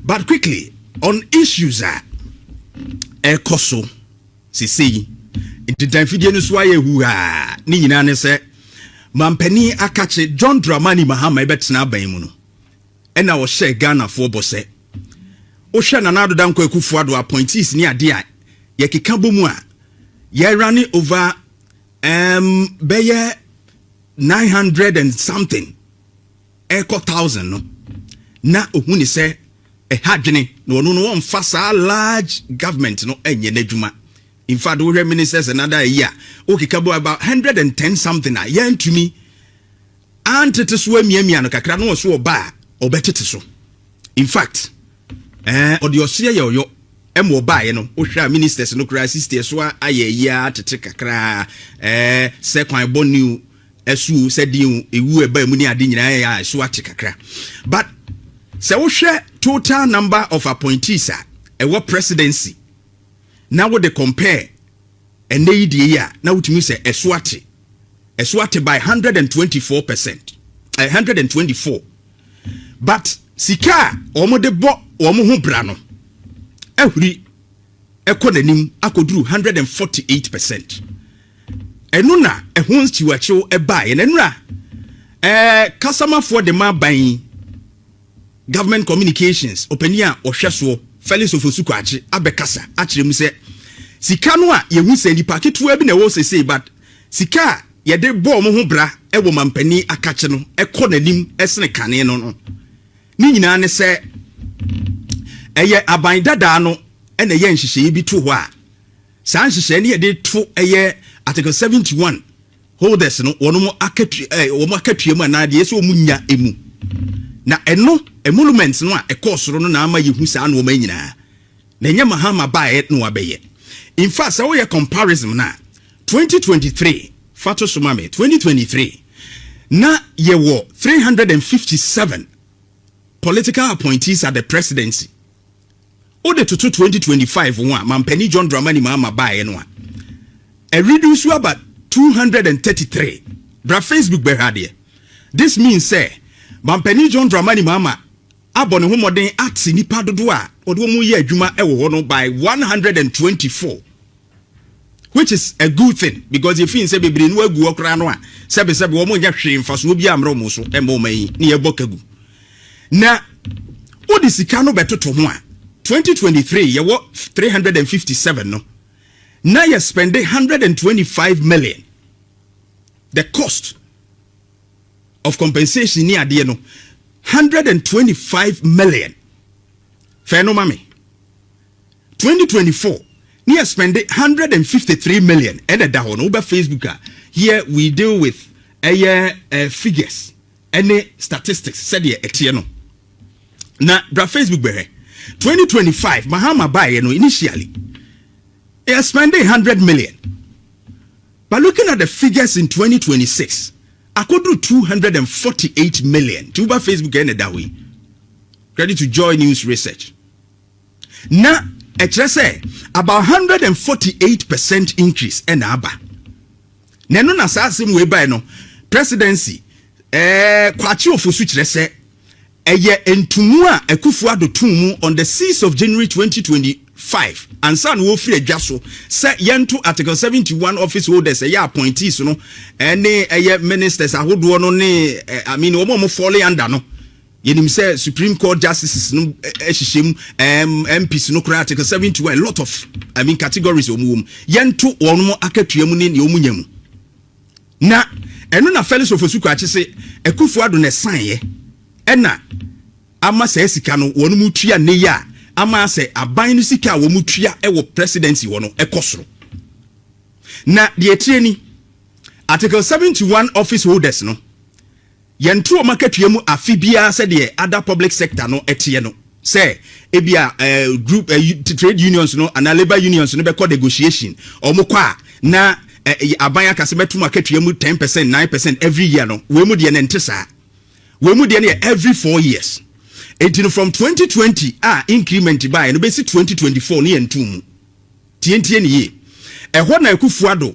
but quickly on issues a ɛkɔ so sesei ntintan fidie no so ayɛ huhaa ne nyinaa ne sɛ mampanin akakye john dramani mahama ɛbɛtena aban mu no ɛna ɔhyɛ ghanafoɔ bɔ sɛ wohwɛ nana adoda nkɔ akufo ado appointees ne adeɛ a yɛkeka bɔ mu a yɛra ne over um, bɛyɛ 900 and something ɛrekɔ thousand no na ohu ne sɛ ɛha adwene na ɔno no wɔmfa saa large government no ɛnyɛ n'adwuma in fact wohwɛ ministers and other ayi a wokeka bo about hundred and ten something a yɛntumi antete so amiamia no kakra na ɔso ɔba a ɔbɛtete so in fact ɛɛ ɔde ɔseɛ yɛ ɔyɔ ɛma ɔbaeɛ no wohwɛ a ministers no koraa sisi ɛso ayɛ ayi a tete kakra ɛɛ sɛ kwan bɔ new ɛso o sɛ deɛ o ewu ɛba mu ne ade nyinaa yɛ a ɛso ate kakra but sɛ wohwɛ total number of appointees a ɛwɔ presidency na wode compare ɛnɛ yi deɛ yi a na wotumi sɛ ɛso ate ɛso ate by 124 percent 124 eh, but sika a wɔn de bɔ wɔn ho bra no ahuri kɔ n'anim akɔduru 148 percent. Ɛno na ɛho nkyiwakyew baeɛ. Na nnura eh, kasamafoɔ de ma aban yi government communications ɔpanin a ɔhwɛ soɔ Felix Ofosu Kwakye abɛkasa akyerɛ mu sɛ sika no a yɛhu sɛ nipa ketewa bi na ɛwɔ sesei but sika a yɛde bɔ wɔn ho bra wɔ mampanin akakye no kɔ n'anim sene kane no no Ne nyinaa ne sɛ, ɛyɛ aban dadaa no na ɛyɛ nhyehyɛeɛ bi to hɔ a, saa nhyehyɛeɛ no yɛde to ɛyɛ Article 71 holders no wɔn mo akatua ɛɛ wɔn akatua mu anaa deɛ ɛsɛ wɔn nya mu na ɛno emoluments no a ɛkɔɔ soro no na ama yɛhu saa nneɛma yi nyinaa na ɛnyɛ mahama baeɛ na wabɛyɛ in fact sɛ woyɛ comparison no a Twenty twenty three fa to so ma me twenty twenty three na yɛ wɔ three hundred and fifty seven political appointees at the presidency o de toto twenty twenty five ho a mampanin John Dramani Mahama baeɛ no a ɛredu nso aba two hundred and thirty three bra Facebook bɛhwɛ adeɛ this means sɛ mampanin John Dramani Mahama abɔ ne ho mmɔden ate nnipa dodoɔ a wɔde wɔn reyɛ adwuma wɔ hɔ no by 124 which is a good thing because yɛfi n sɛ bebree no agu hɔ koraa no a sɛbesɛbe wɔn nyɛ hwee mfasoɔ bi ammrɛ wɔn so ɛmmɔ wɔn ani ne yɛbɔ ka gu na wode sika no bɛtoto ho a 2023 yɛwɔ 357 no na yɛ spende 125 million the cost of compensation ni adeɛ no hundred and twenty five million fɛn no ma mi twenty twenty four ne yɛ spend hundred and fifty three million ɛna da hɔ no wobɛ facebook a here we deal with ɛyɛ uh, figures ɛne statistics sɛdeɛ ɛteɛ no na bra facebook bɛhwɛ twenty twenty five mahama baeɛ no initially yɛ spend hundred million. But looking at the figures in twenty twenty six akɔduru two hundred and forty eight million nti woba Facebook ɛna ɛda hɔ yi credit to Joy News Research na ɛkyerɛ sɛ about hundred and forty eight percent increase ɛna aba na ɛno na saa asɛm wei bae no presidency ɛɛ Kwakye Ofosu kyerɛ sɛ Ɛyɛ ntumu a Akufo-Addo too mu on the six of January twenty twenty five ansa na ɔrefiri adwa so sɛ yɛnto Article seventy one office holders ɛyɛ appointees no ne ɛyɛ ministers ahodoɔ no ne I mean wɔn a wɔn falling under no yɛnim sɛ Supreme Court justices no hyehyɛ mu um, MPs no koraa Article seventy one a lot of I mean categories wɔn wɔm yɛnto wɔn akatua mu ne nea wɔn nya mu. Na ɛno na Felix Ofosu-Kwakye se Akufo-Addo na ɛsaeɛ ɛna ama saa sika no wɔnom retua nnɛ yi a ama asɛ aban no sika a wɔnom tua wɔ Presidency hɔ no kɔ soro. Na deɛ ɛteɛ ni, Article 71 Office Holders no, Yɛn too m'akatua mu afe biara sɛdeɛ other public sector no teɛ no sɛ ebia eh, group eh, trade unions no anaa labour unions no bɛkɔ negotiation. Wɔn kɔ a na eh, aban aka sɛ mɛto m'akatua mu 10 percent, 9 percent every year no. Wei mu deɛ no ɛnte saa. Wei mu deɛ no yɛ every four years. Enti no from 2020 a increment baeɛ no bɛsi 2024 no yɛntoo mu. Tientie ne yie. Ɛhɔ na Akufo-Addo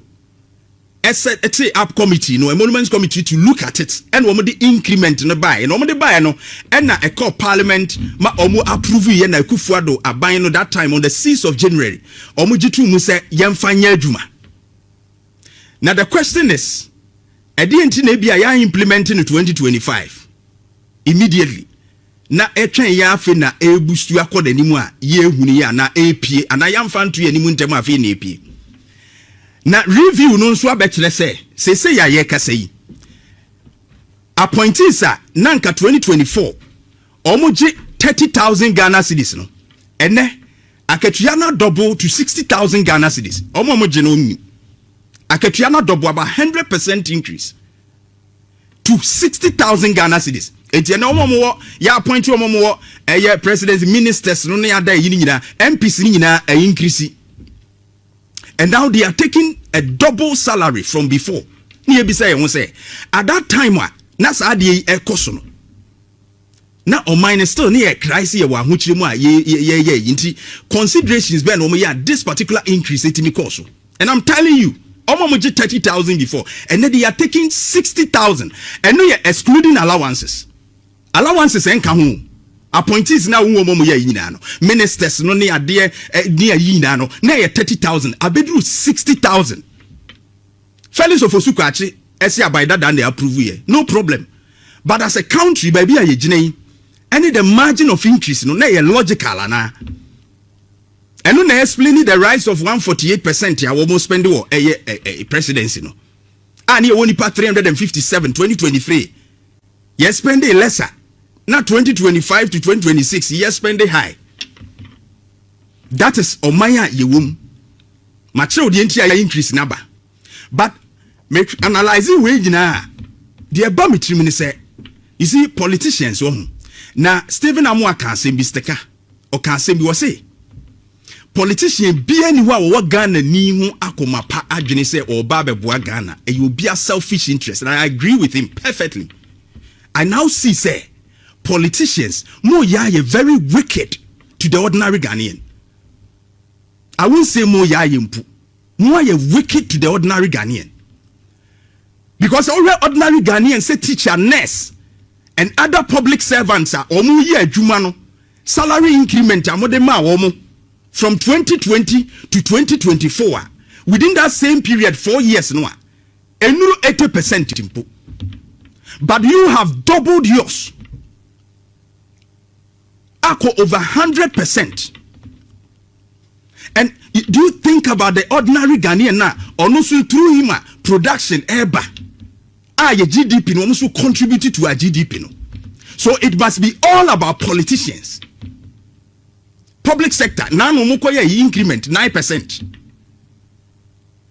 ɛsɛ ɛtee up committee no emoluments committee to look at it ɛna wɔn de increment no baeɛ na wɔn de baeɛ no ɛna ɛkɔɔ parliament ma wɔn approve yɛ na akufuado aban no that time on the six of january wɔn gye to mu sɛ yɛnfa nyɛ adwuma na the question is ɛdeɛ nti na ebi a yɛa implement no twenty twenty five immediately na ɛtwɛn yɛn afei na ɛrebusu akɔ n'anim a yɛrehunu yɛ anaa ɛrepie anaa yɛamfa nto yɛn anim ntɛm a afei na ɛrepie. Na review no nso abɛkyerɛ sɛ seesei a yɛrekasa yi appointees a na nka 2024 wɔgye 30,000 Ghana cedis no ɛnɛ akatua no adɔbo to 60,000 Ghana cedis wɔn a wɔgye no wɔn akatua no adɔbo about 100 percent increase. to sixty thousand ghana cedis eti ɛnna wɔn a wɔwɔ yɛ appoint wɔn a wɔwɔ ɛyɛ president ministers no ne ada ɛyi ne nyinaa mps ne nyinaa ɛyi nkirisi and now they are taking a double salary from before ne yɛ bisa yɛn ho sɛ at that time a na saa adeɛ yi ɛkɔ so no. na ɔman no still ne yɛ kra se yɛwɔ ahokyere mu a yɛyɛ yi nti considerations bɛn na wɔn yɛ a this particular increase etimi kɔɔ so and i'm telling you ɔmo mo gye thirty thousand before ɛnɛ de yɛ taking sixty thousand ɛno yɛ excluding allowances allowances ɛnka ho appointees na wɔn wɔn yɛ nyinaa no ministers no ne adeɛ ne ayi nyinaa no na yɛ thirty thousand abeduru sixty thousand. Felix Ofosu Kwakye ɛse aban dadaa na approve yɛ no problem but as a country baabi a yɛgyina yi ɛne the margin of increase no na ɛyɛ logical anaa? Ɛno na explaini the rise of 148 percent a wɔn spend wɔ ɛyɛ ɛɛ presidency no a ne yɛwɔ nipa 357 2023 yɛ spending lesser na 2025 to 2026 yɛ spending high. That is ɔman a yɛwɔ mu. Makyerɛw deɛ nti a yɛ increase n'aba. But me analyze wei nyinaa a, deɛ ɛba me tirim ne sɛ, you see politicians wɔ ho. Na Stephen Amoah ka asɛm bi, Steka, ɔka asɛm bi, ɔse politician biara ni hɔ a wɔwɔ Ghana ni ho akoma pa adwene sɛ ɔreba abɛboa Ghana. Ɛyɛ obia selfish interest. And I agree with him perfectly. I now see sɛ Politicians mo yaa yɛ very wicked to the ordinary Ghanaian I won't say mo yaa yɛ mpu mo ayɛ wicked to the ordinary Ghanaian because ɔhwɛ ordinary Ghanaian sɛ teacher nurse and other public servants a wɔn yɛ adwuma no salary increment a mo de maa wɔn from 2020 to 2024 a within that same period four years no a Ɛnnuru eighty percent mpo. But you have doubled yours akɔ over hundred percent. And do you think about the ordinary Ghanaian na ɔno nso through him a production ɛreba a yɛ GDP no wɔn nso contribute to our GDP no. So it must be all about politicians. Public sector, now no moko ye increment 9%.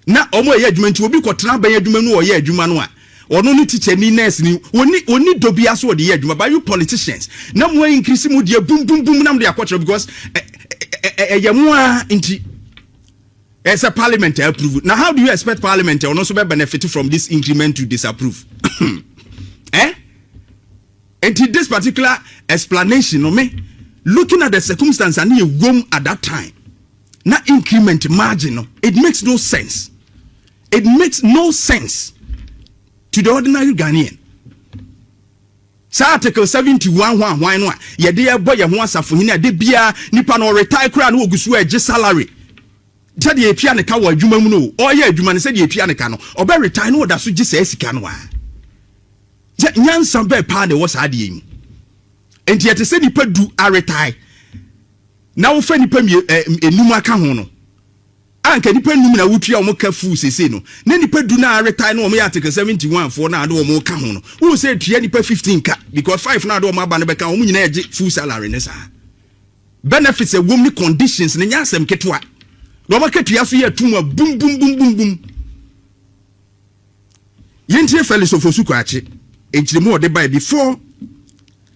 Ná wɔreyɛ adwuma nti, obi kɔtena abɛn adwuma mu na ɔyɛ adwuma no a, ɔno ne tikyani, nɛɛseni, wɔnni wɔnni dɔ biara so wɔde yɛ adwuma. But you politicians, na mo increase mo deɛ bum bum bum na mo de akɔkyerɛ because ɛ ɛ ɛ ɛyɛ mo ara nti. Ɛsɛ parliament a approve. Na how do you expect parliament a ɔno nso bɛ benefit from this increment to disapprove? eh? Nti this particular explanation no me looking at the circumstance and yɛ wom at that time. Na increment margin no, it makes no sense. It makes no sense to the ordinary Ghanaian. Saa Article 71 ho ahwan no a yɛde ɛbɔ yɛn ho asafohene a de biara nipa no ɔretae koraa no wɔgu so a ɛgye salary sɛdeɛ ɛtua ne ka wɔ adwuma mu no ɔyɛ adwuma no sɛdeɛ ɛtua ne ka no ɔbɛ retae no ɔda so gye saa sika no a sɛ nyansa bɛɛ paa na ɛwɔ saa adeɛ yi mu nti ɛte sɛ nipa du aretae na wofa nnipa mmienu ɛɛ enum aka ho no a nka nnipa enum na wotua wɔn ka full sese no na nnipa du na retae no wɔn yɛ article seventy one foɔ na ade wɔn ka ho no wohu sɛ etua nnipa fifteen ka because five na ade wɔn aba no bɛka wɔn nyinaa gye full salary ne saa benefits ɛwom ne conditions ne nyɛ asɛm ketewa na wɔn akatua so yɛ atum a bum bum bum bum bum yɛntie Felix Ofosu Kwakye nkyerɛmu ɔde bae before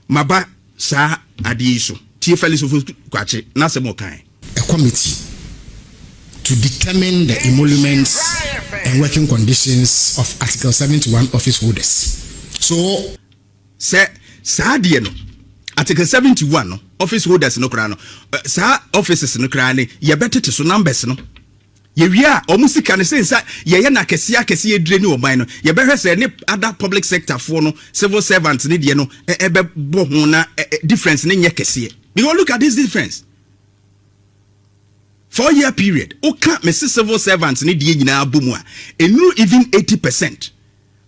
Maba saa adeɛ yi so. Tie Felix Ofori-Kwakye n'asɛm a ɔkaeɛ. a committee to determine the emoluments and working conditions of Article seventy one office holders. So. Sɛ saa deɛ no, Article seventy one no, office holders no koraa no, saa offices no koraa no, yɛbɛtete so, numbers no. Yɛwie a, wɔn sika no, sensɛ yɛyɛ no akɛseɛ akɛseɛ yɛdire ne ɔman no, yɛbɛhwɛ sɛ ɛne other public sector foɔ no, civil servants no deɛ no ɛbɛbɔ ho na difference no nyɛ kɛseɛ. Because look at this difference, four year period, woka mese civil servants no deɛ nyinaa bɔ mu a, ɛnuru even eighty percent.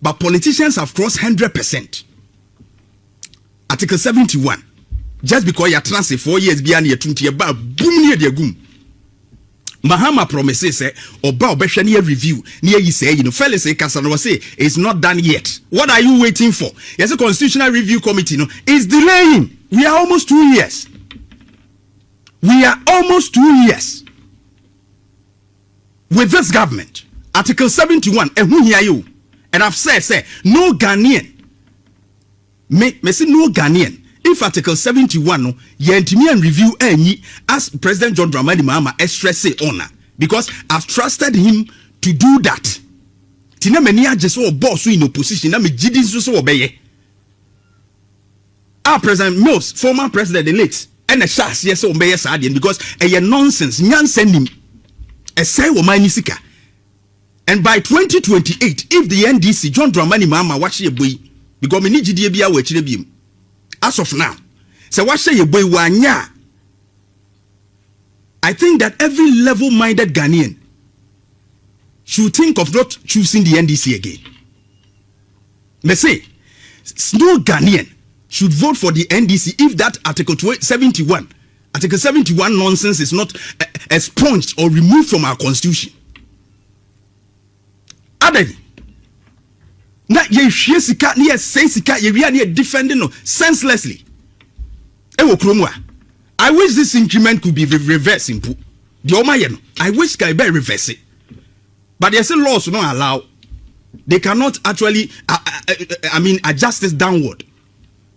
but politicians have crossed hundred percent article seventy one just because yɛatena ase four years biara na yɛtu nti yɛbaa bum ne yɛde agum mahama promise sɛ ɔba ɔbɛhwɛ ne yɛ review ne yɛyi sɛ yi no felix kasa no wɔse it's not done yet what are you waiting for yɛsɛ constitutional review committee no is delaying we are almost two years we are almost two years With this government, Article seventy one ɛho hia yɛ o and I've said sɛ no Ghanaian me mesi no Ghanaian if Article seventy one no yɛntumi and review anyi as President John Dramani Mahama ɛstrɛse on a because I've trusted him to do that ti na m'ani agye sɛ ɔbɔɔ so in opposition na megye di nso sɛ ɔbɛyɛ. Ah President Mills former president the late ɛna ɛhyɛ aseɛ sɛ wɔn bɛyɛ saa adeɛ no because ɛyɛ nonsense nyansa nim ɛsɛe wɔn ani sika and by 2028 if the NDC John Dramani Mahama wahyɛ yɛ bɔ yi because mene gyidie biara wɔ akyire biem as of now sɛ wahyɛ yɛ bɔ yi wanyɛ a I think that every level minded Ghanaian should think of not choosing the NDC again. Mese no Ghanaian should vote for the NDC if that article 71 article 71 nonsense is not eh, expunged or removed from our constitution. Adan na yɛhwie sika na yɛsɛe sika yɛwia na yɛ defend no senselessly ɛwɔ kurom a i wish this increment could be reverse mpo deɛ ɔma yɛ no i wish ka ɛbɛ reverse but yɛse laws no allow they cannot actually uh, uh, uh, I mean adjust this downward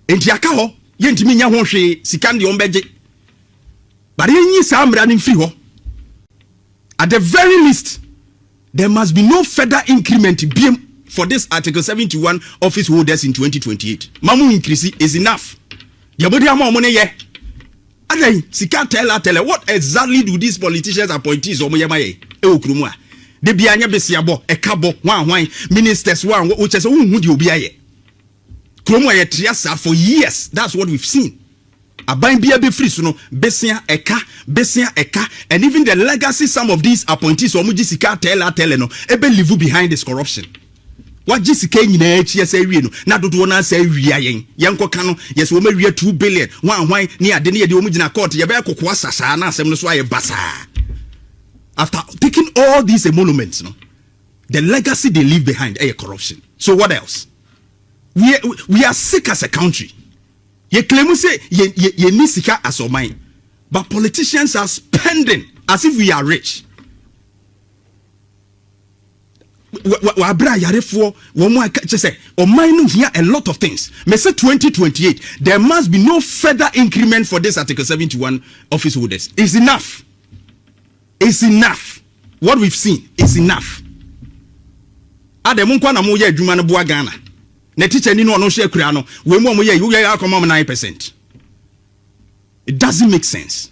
nti aka hɔ yɛntumi nyɛ ho hwee sika deɛ ɔmbɛgye but yɛnyi saa mmara no mfiri hɔ at the very least there must be no further increment biem for this article 71 office holders in 2028 mamu increase is enough deɛ mode ama ɔmo ne yɛ Adɛn sika tell a tell what exactly do these politicians appointees wɔn yɛ ma yɛ ɛwɔ kuro mu a de bi anyɛ besiabɔ ɛka bɔ hwan hwan ministers wɔn a wɔkyɛ sɛ wɔn hu deɛ obi ayɛ kuro mu a yɛ tria saa for years that's what we've seen aban bia bɛfiri so no besia ɛka besia ɛka and even the legacy some of these appointees wɔn gye sika tell a tell no ɛbɛ live behind this corruption. Wagye sika yi nyinaa akyi asa awie no, na dodoɔ no asa awia yɛn. Yɛnkɔ ka no, yɛsɛ wɔn awia 2 billion, hwan hwan, ne ade ne yɛde wɔn gyina court, yɛbɛyɛ koko asa saa na asɛm no so ayɛ basaa. After taking all these emoluments no, the legacy they leave behind ɛyɛ corruption. So what else? We, we, we are sick as a country. Yɛ claim sɛ yɛni sika as ɔman, but politicians are spending as if we are rich. wɔabrɛ ayarefoɔ wɔn a kyɛ sɛ ɔman no hia a lot of things mese 2028 there must be no further increment for this article 71 office holders is enough is enough what we've seen is enough adɛ mo nkwa na moyɛ adwuma no boa ghana na tikya ni no ɔno hyɛ kura no wei mu a moyɛ woyɛ akɔma m 9 percent it doesn't make sense